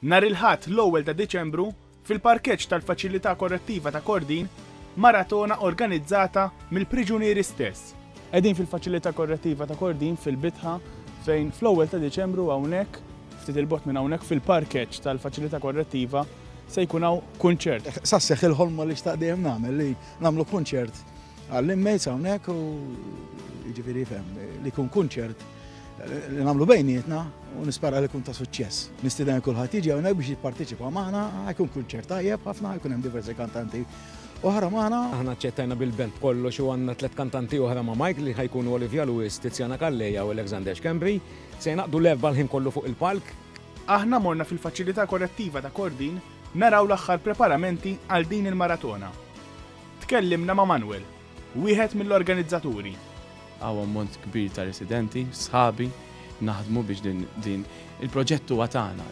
Nhar il-Ħadd l-ewwel ta' Diċembru, fil-parkeġġ tal-Faċilità Korrettiva ta' Kordin, maratona organizzata mill-priġunieri stess. Qegħdin fil-Faċilità Korrettiva ta' Kordin fil-Bitħa fejn fl-ewwel ta' Diċembru hawnhekk, ftit 'il bogħod minn hawnhekk fil-parkeġġ tal-Faċilità Korrettiva, se jkun hawn kunċert. Sa sseħħ il-ħolma li xtaqt dejjem nagħmel li nagħmlu kunċert Għall-inmates hawnhekk u jiġifieri fem li jkun kunċert li nagħmlu bejnietna u nispara li kun ta' suċċess. Nistiden kulħadd jiġi hawnhekk biex jipparteċipa magħna, jkun kunċert tajjeb ħafna, jkun hemm diversi kantanti oħra magħna. Aħna ċċettajna bil-belt kollox u għandna tliet kantanti oħra ma' Mike li ħajkunu Olivia Lewis, Tiziana Kalleja u Alexander Schembri. Se jnaqdu l-erba l-ħin kollu fuq il-palk. Aħna morna fil-faċilità korrettiva ta' Kordin naraw l-aħħar preparamenti għal din il-maratona. Tkellimna ma' Manuel, wieħed mill-organizzaturi. Hawn ammont kbir ta' residenti, sħabi, naħdmu biex din il-proġett huwa tagħna,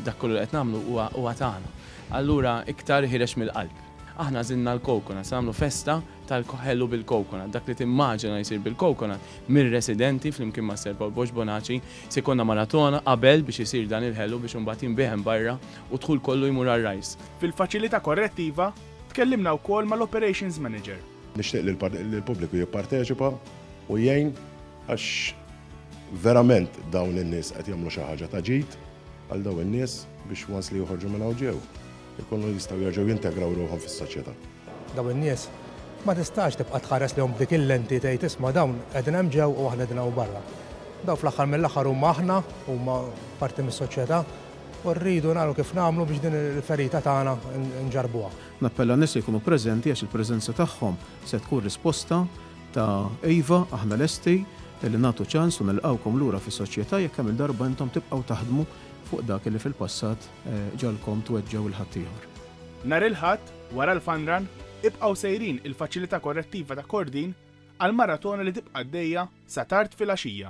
dak kollu li qed nagħmlu huwa tagħna. Allura iktar ħireġ mill-qalb. Aħna għażilna l-coconut, se nagħmlu festa tal-ħelu bil-coconut. Dak li timmaġina li jsir bil-coconut mir-residenti flimkien ma' Sir Paul Bosch Bonaci, se jkollna maratona qabel biex isir dan il-ħelu biex imbagħad jinbiegħ hemm barra u d-dħul kollu jmur għar-RISE. Fil-Faċilità Korrettiva, tkellimna wkoll mal-Operations Manager. Nixtieq li l-pubbliku jipparteċipa u jgħin għax verament dawn in-nies qed jagħmlu xi ħaġa ta' ġid għal dawn in-nies biex once li joħorġu minn hawn ġew ikunu jistgħu jerġgħu jintegraw ruħhom fis-soċjetà. Dawn in-nies ma tistax tibqa' tħares lejhom b'dik il-lenti tgħid isma' dawn qegħdin hemm ġew u aħna qegħdin hawn barra. Dawn fl-aħħar mill-aħħar huma aħna, huma parti mis-soċjetà U rridu nagħmlu kif nagħmlu biex din il-ferita tagħna nġarrbuha. Nappella n-nies li jkunu preżenti għax il-preżenza tagħhom se tkun risposta ta' iva, aħna lesti li nagħtu ċans u nilqgħukom lura fis-soċjetà jekk kemm-il darba intom tibqgħu taħdmu fuq dak li fil-passat ġagħalkom tweġġgħu 'l ħaddieħor. Nhar il-Ħadd, wara l-Fun Run, ibqgħu sejrin il-Faċilità Korrettiva ta' Kordin għall-maratona li tibqa' għaddejja sa tard filgħaxija.